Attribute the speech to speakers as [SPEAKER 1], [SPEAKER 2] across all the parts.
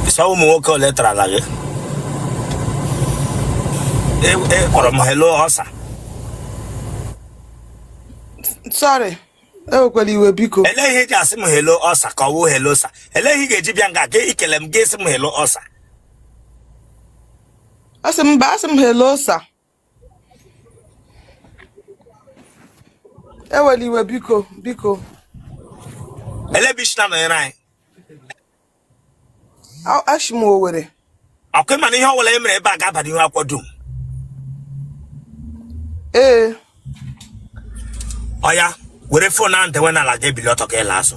[SPEAKER 1] so ụmụ nwoke ole tarala gị E- e kpọrọ m hello ọsa
[SPEAKER 2] sorry ewekwala iwe biko elee ihe ị ji asị m
[SPEAKER 1] hello ọsa ka ọ wụ hello sir elee ihe ị ga-eji bịa nga gị ikele m gị asị m hello ọsa
[SPEAKER 2] asị m mba asị m hello sir ewela iwe biko
[SPEAKER 1] biko elebishina nọnyere anyị
[SPEAKER 2] ashi m owere ọkụ mana
[SPEAKER 1] ihe ọbụla e mere ebe a ga-aba n'ihu akwụkwọ dum ee oya were phone ahụn dewe n'ala gị ebili ọtọ ka ị laa azụ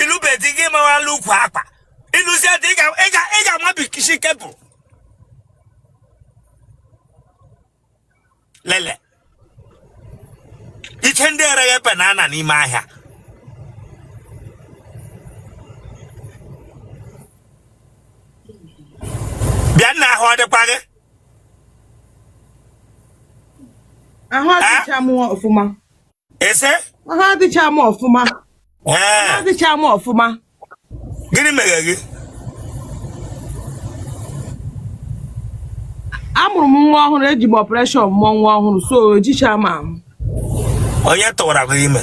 [SPEAKER 1] ị lụbe di gị amawala ukwu akwa ị lụzie di ị ga- ị ga- ị ga-amabikishi kebụl lele yiche ndị ereghe banana n'ime ahịa bịa nna ahụ ọ dịkwa gị
[SPEAKER 2] ahụ adịcha mụ ọfụma ị
[SPEAKER 1] sị ahụ
[SPEAKER 2] adịcha m ọfụma ahụ ee adịcha m ọfụma gịnị
[SPEAKER 1] mere gị
[SPEAKER 2] amụrụ m nwa ọhụrụ eji m operation mụọ nwa ọhụrụ so ejicha m ahụ onye
[SPEAKER 1] tụwara gị ime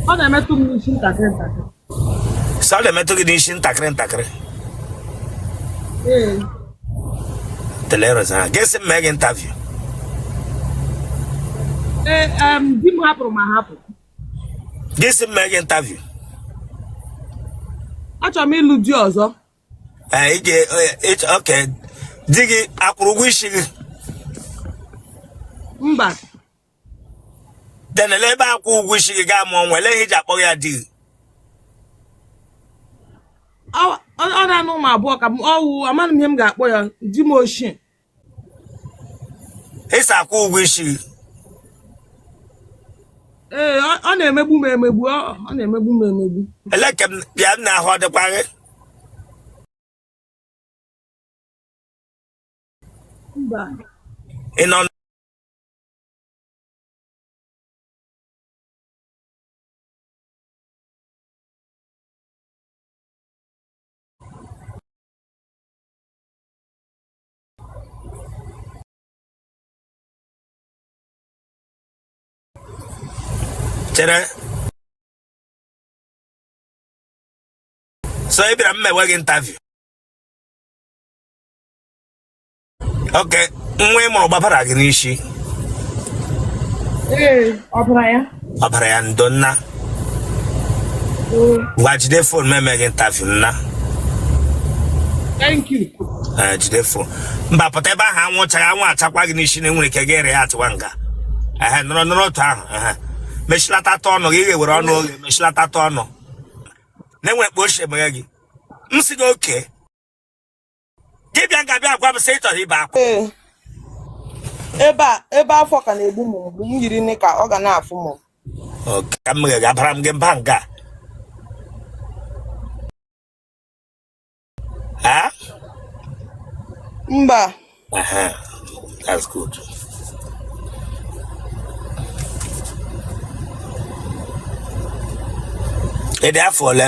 [SPEAKER 2] ọ na-emetụ m n'isi ntakịrị ntakịrị
[SPEAKER 1] sị ọ na-emetụ gị n'isi ntakịrị ntakịrị hmm. teleres ha gị asị m mee gị
[SPEAKER 2] interview eh, di m hapụrụ m ahapụ
[SPEAKER 1] gị asị m mee gị
[SPEAKER 2] interview achọrọ m ịlụ di ọzọ ee eh, eh,
[SPEAKER 1] okay di gị akwụrụ ụgwọ isi gị
[SPEAKER 2] mba then
[SPEAKER 1] elee ebe akwụ ụgwọ isi gị gaa mụọ nwa elee ihe ị ji akpọ ya
[SPEAKER 2] di ọ nna ụmụ abụọ ka ọ wụ amaghị m ihe m ga-akpọ ya di m ochie
[SPEAKER 1] ị sị akwụ ụgwọ isi gị
[SPEAKER 2] ee ọ na-emegbu m emegbu ọ na-emegbu m emegbu elee ka m
[SPEAKER 1] bịa nna ahụ ọ dịkwa gị
[SPEAKER 2] mba ị
[SPEAKER 1] nọ chere so ị bịara m mewe gị interview okay nwa ị mụrụ gbabara gị
[SPEAKER 2] n'isi ọbara ya ndo
[SPEAKER 1] nna ngwa jide phone m eme gị interview nna
[SPEAKER 2] eh, jide
[SPEAKER 1] phone mba pụta ebe ahụ anwụ chara anwụ achakwa gị n'isi na enwere ike gị ere ya atụwa nga ehe nọrọ nọrọ otu ahụ ehe mechilata ọnụ gị ga-ewere ọnụ oge mechilata ọnụ na-enwere kpa ochie emeghe gị m sị gị okay gị bịa nga a bịa gwa m sị ị chọrọ ibe
[SPEAKER 2] akwa ee ebe a ebe afọ ka na-egbu m mgbu m yiri knicker ọ ga na-afụ m Okay, ka m
[SPEAKER 1] meghe abara m gị mba nga
[SPEAKER 2] a mba
[SPEAKER 1] Aha, that's good. Ị dị afọ ole?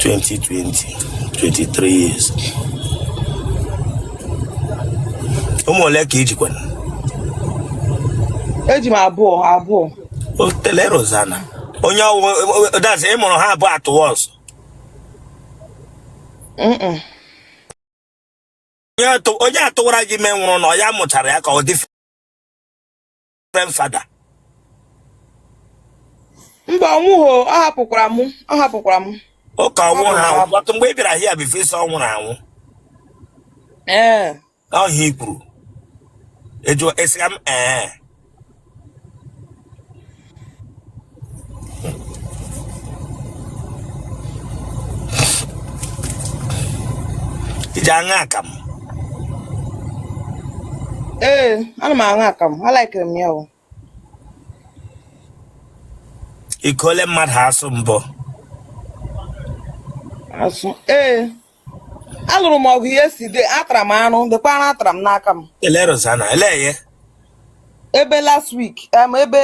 [SPEAKER 1] 23 years ụmụ ole ka i
[SPEAKER 2] jikwanụ eji m abụọ abụọ otele
[SPEAKER 1] Rosanna onye ọ wụ that's ị mụrụ ha abụọ at once onye tụwara gị ime nwụrụ na ọ ya mụchara ya ka ọ dị different
[SPEAKER 2] father mba ọ nwụghị o, ọ hapụkwara m ọ hapụkwara m ụka ọnwụ ha
[SPEAKER 1] anwụ but mgbe ị bịara here before ị sị ọ nwụrụ anwụ ee ọ ihe i kwuru ejụọ esiga m ee ị ji aṅụ akamụ
[SPEAKER 2] ee ana m aṅụ akamụ alaikere m ya
[SPEAKER 1] o iko ole mmadụ asụ mbụ
[SPEAKER 2] asụ ee alụrụ m ọgụ yesterday atara m arụ lekwa arụ atara m n'aka m ele Rosanna
[SPEAKER 1] elee
[SPEAKER 2] ebe last week em ebe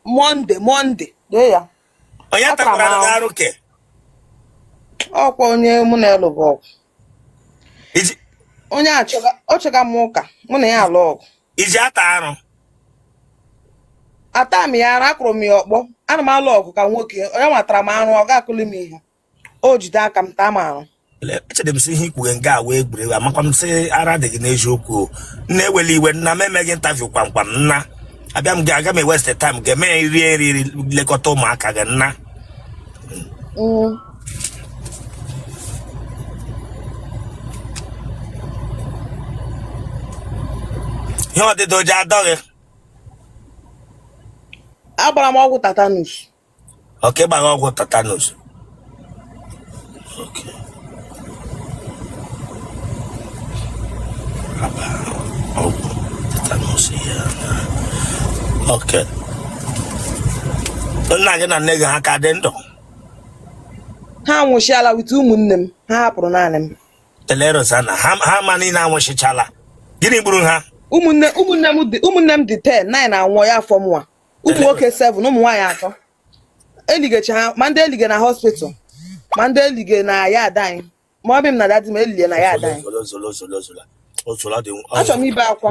[SPEAKER 2] Monday Monday lee ya onye Atara m takwara
[SPEAKER 1] arụ. gị arụ ke
[SPEAKER 2] ọkwa onye mụ na ya lụrụ ọgụ Iji- onye a chọga- ọ chọga m ụka mụ na ya alụ ọgụ ị ji ata arụ ata m ya arụ akụrụ m ya ọkpọ ana m alụ ọgụ ka nwoke onye nwa tara m arụ ọ ga-akụli m ihe o jide aka m taa m arụ echere m sị
[SPEAKER 1] ihe i kwughe nga a wụ egwuregwu amakwa m sị ara dị gị n'eziokwu o. nna ewele iwe nna m eme gị interview kwamkwam nna abịa m aga m eweste time gị emee rie nri ri- lekọta ụmụaka gị nna Mm. ihe ọ dị ọ ji adọ
[SPEAKER 2] gị agbara m ọgwụ tetanus okay
[SPEAKER 1] ịgba ha ọgwụ tetanus Okay. Agba ọgwụ tetanus ihe a na okay nna gị na nne gị ha ka dị
[SPEAKER 2] ndụ ha anwụchiala with ụmụnne m ha hapụrụ naanị m Otele
[SPEAKER 1] Rosanna ha ha ma niile anwụchichala gịnị gburu ha ụmụnne ụmụnne m dị
[SPEAKER 2] ụmụnne m dị ten nine anwụọ ya afọ mụwa ụmụ nwoke 7 ụmụ nwaanyị atọ eligecha ha ma ndị elige na hospital ma ndị elige na yard anyị mummy m na daddy m elige na yard anyị achọrọ m ibe akwa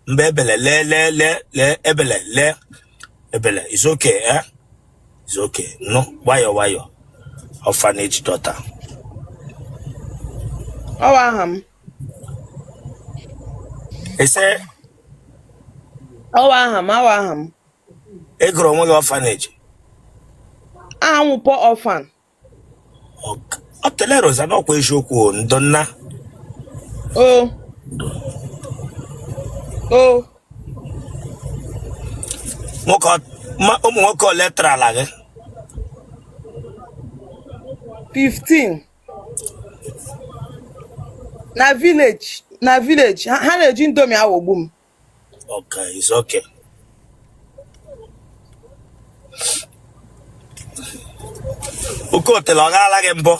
[SPEAKER 2] mgbe
[SPEAKER 1] ebele lee lee lee lee ebele lee ebele it's okay eh it's okay nọ nwayọ nwayọ orphanage daughter
[SPEAKER 2] ọ wụ aha m
[SPEAKER 1] ị
[SPEAKER 2] sị ọ wụ aha m ọ wụ aha m ị gụrụ onwe
[SPEAKER 1] gị orphanage
[SPEAKER 2] aha m poor orphan
[SPEAKER 1] Otele Rosanna ọkwa eziokwu o, ndo nna o o nwoke ọ- ma- ụmụ nwoke ole tarala gị
[SPEAKER 2] 15 na village na village ha ha na-eji indomie aghọgbu m Okay, it's
[SPEAKER 1] okay. Okay Otele ọ gaala gị
[SPEAKER 2] mbọ?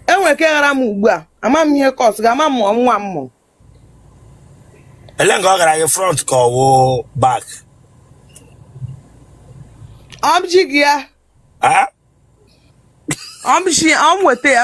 [SPEAKER 2] enwere ka ịghara m ugbu a ama m ihe kọs ga ama m mụọ nwa m mụrụ
[SPEAKER 1] ele nga ọ gara gị front ka ọ wụ back
[SPEAKER 2] ọmji gị ya Ah, ọmji ọm weta ya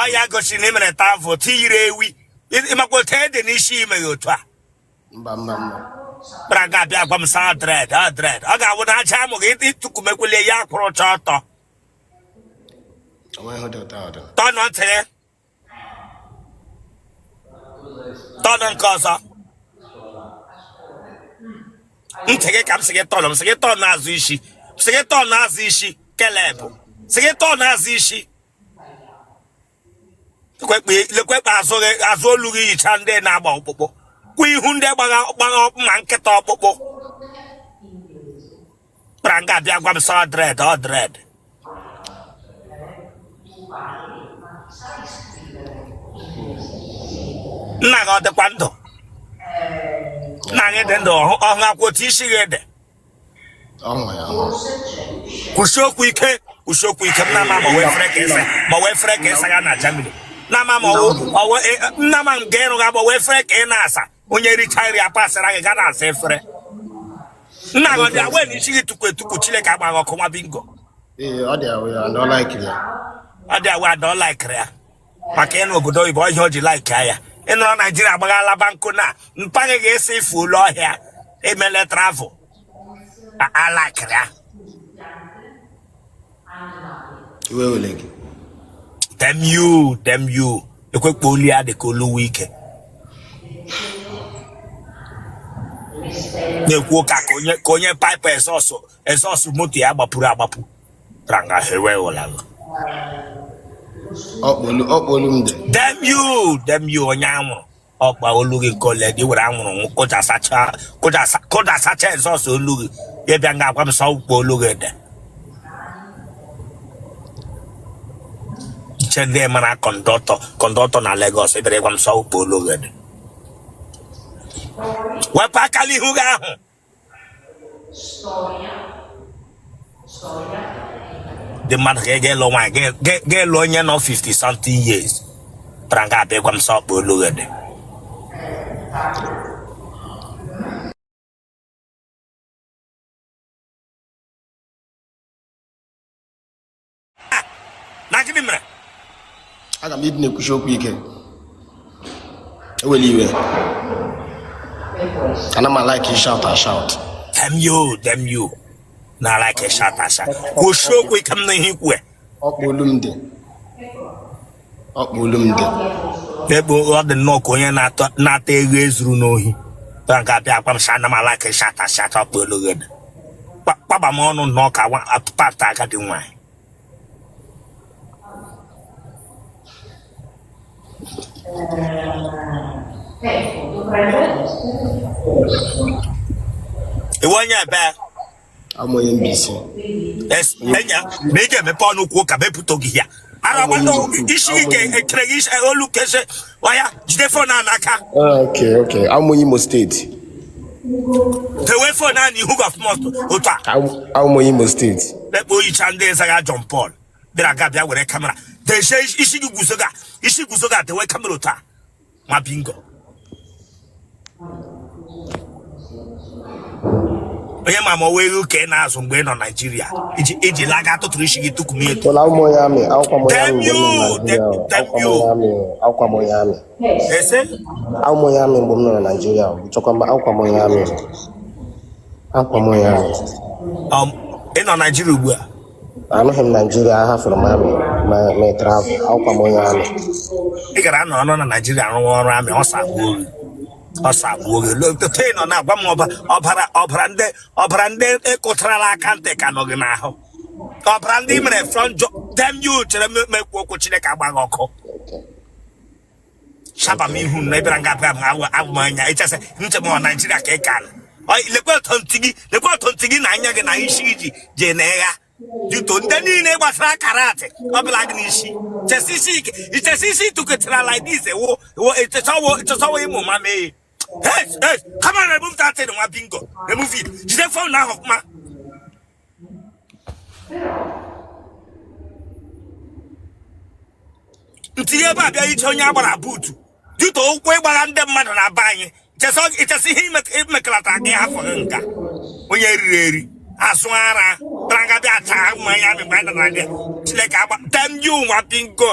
[SPEAKER 1] ọ ya gosiri na ị mere travel tiyiri ewi ịmakwa otu ede n'isi ime ya otu a
[SPEAKER 3] kpara ga
[SPEAKER 1] abịa agwa m saa dread a dread ọ ga-awụ na aja amụ gị ịtụkumekwele ya kwụrụ ọcha ọtọ turn ntị turn nke ọzọ ntị gị ka m sị gị turn m sị gị turn azụ isi sị gị turn azụ isi Caleb sị gị turn azụ isi lekwe kpa azụ olu gị yicha ndị na-agba ọkpụkpụ kwa ihu ndị gbagha ọkpụkpụ ma nkịta ọkpụkpụ pụtara nga abịa gwa m sị ọ dread ọ dread nna gị ọ dịkwa ndụ nna gị dị ndụ ọhụ ọhụ akwụ otu isi gị
[SPEAKER 3] ede kwusie okwu
[SPEAKER 1] ike kwusie okwu ike m na-ama ma ọ wụ efere ka ị sa ma ọ wụ efere ka ị saga na Germany na-ama ma ọ wụ nna ma m ga-ịrụ gị agba ọ wụ efere ka ị na-asa onye richaa nri apasịra gị ga na-asa efere nna gị ọ dị aware na isi gị tukwu etukwu chineke agba gị ọkụ nwa bingo ee ọ dị
[SPEAKER 3] aware and ọ laikiri ya ọ dị aware and
[SPEAKER 1] ọ laikiri ya maka ị nọ obodo oyibo ọ ihe o ji like ya ị nọrọ naijiria agbaghala banko na mpa gị ga-esi ife ụlọ ọ ihe i mele travel alaikiri ya iwe wele gị damn you damn you lekwe kpa olu ya dị ka olu Wike na-ekwu ụka ka onye ka onye pipe exhaust exhaust moto ya gbapuru agbapu pụtara nga hewe ụla ọ kpa olu ọ kpa olu m dị damn you damn you onye anwụrụ ọ kpa olu gị nke ole dị were anwụrụ nwụ kụjasacha kụjasa kụjasacha exhaust olu gị ya bịa nga agwa m sị ọ kpa olu gị dị iche ndị mara conductor conductor na Lagos ị bịara gwa m sị ọ kpa olu gị dị wepụ aka n'ihu gị ahụ dị mmadụ ka ị ga-alụ nwaanyị ga-alụ onye nọ 50 something years pụtara nga abịa gwa m sị ọ kpa olu gị dị na gịnị
[SPEAKER 3] mere aga m ịdị na-ekwusi okwu ike ewela iwe ana m alike shout ashout damn
[SPEAKER 1] you damn you na-alike shout ashout kwusie okwu ike m nụ ihe i kwu ọ kpa olu m dị
[SPEAKER 3] ọ kpa
[SPEAKER 1] olu m dị ebe ọ dị nnọọ ka onye na-ata eghu e zuru n'ohi pụta nga abịa agwa m sị ana m alike ịshout ashout ọ kpa olu gị dị kpagba m ọnụ nnọọ ka apata agadi nwaanyị ị wụ onye ebe a wụ
[SPEAKER 3] m onye Mbaise yes
[SPEAKER 1] enya na ị ga-emepe ọnụ kwuo ka bepụta gị ya ara gbata isi ike ekere gị isi- olu kese waya jide phone a n'aka Ah, okay okay
[SPEAKER 3] a wụ m onye Imo State
[SPEAKER 1] tewe phone a n'ihu gọfmọt otu a Am- a wụ m onye Imo
[SPEAKER 3] State ekpo oyicha
[SPEAKER 1] ndị zaga John Paul bịara nga bịa were camera tezie isi gị guzo ga isi guzo ga tewe camera otu a nwa bingo onye ma ma ewu ka ị na-azụ mgbe ị nọ Naijiria iji laga tụtụrụ isi gị tukum ya etu ese
[SPEAKER 3] awụkwa m onye army mgbe m nọ na Naijiria chọkwa mba awụkwa m onye army awụkwa m onye army
[SPEAKER 1] ị nọ Naijiria ugbu a anọghị
[SPEAKER 3] m naijiria ahafụrụ m army ma ma ị travel awụkwa m onye army ị gara
[SPEAKER 1] nọ na naijiria rụwa ọrụ army ọsọ agbuo gị ọsọ agbuo gị lotote nọ na-agwa m ọba- ọbara ọbara ndị ọbara ndị ị kụtarala aka ntị ka nọ gị n'ahụ ọbara ndị i mere frog jump damn you chere m ekwu okwu chineke agba gị ọkụ shaba m ihu na ị bịara nga a bịa abụ abụ m anya ịchasị nche m ọ naijiria ka ị ka nọ lekwa ọtọ ntị gị lekwa ọtọ ntị gị na anya gị na isi gị ji jee na ịgha juto ndị niile gbasara karate ọbụla gị n'isi chesi isi ike ichesi isi tụkọtara like this ewo ewo ịchọsọwo ịchọsọwo ịmụ ma mee Hey, hey, come on, remove that thing, nwa bingo. Remove it. Jide phone ahụ ọfụma. ntinye ebe a bịa iche onye a gbara buutu dịta ụkwụ ị gbara ndị mmadụ na be anyị ichesi ihe imekalata gị afọ gị nka onye riri eri azụ ara bịara nga bịa taa mmanya mịgbe anyị dara gị chineke agba damn you nwa bingo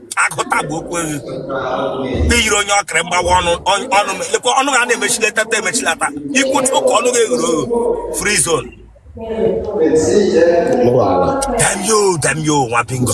[SPEAKER 1] akụta bụ okwu eghe iyiri onye ọkịrị mgbawa ọnụ ọnụ lekwa ọnụ ha na-emechilata emechilata ikwutu ka ọnụ ga-eghere oghe free zone damn you damn you nwa bingo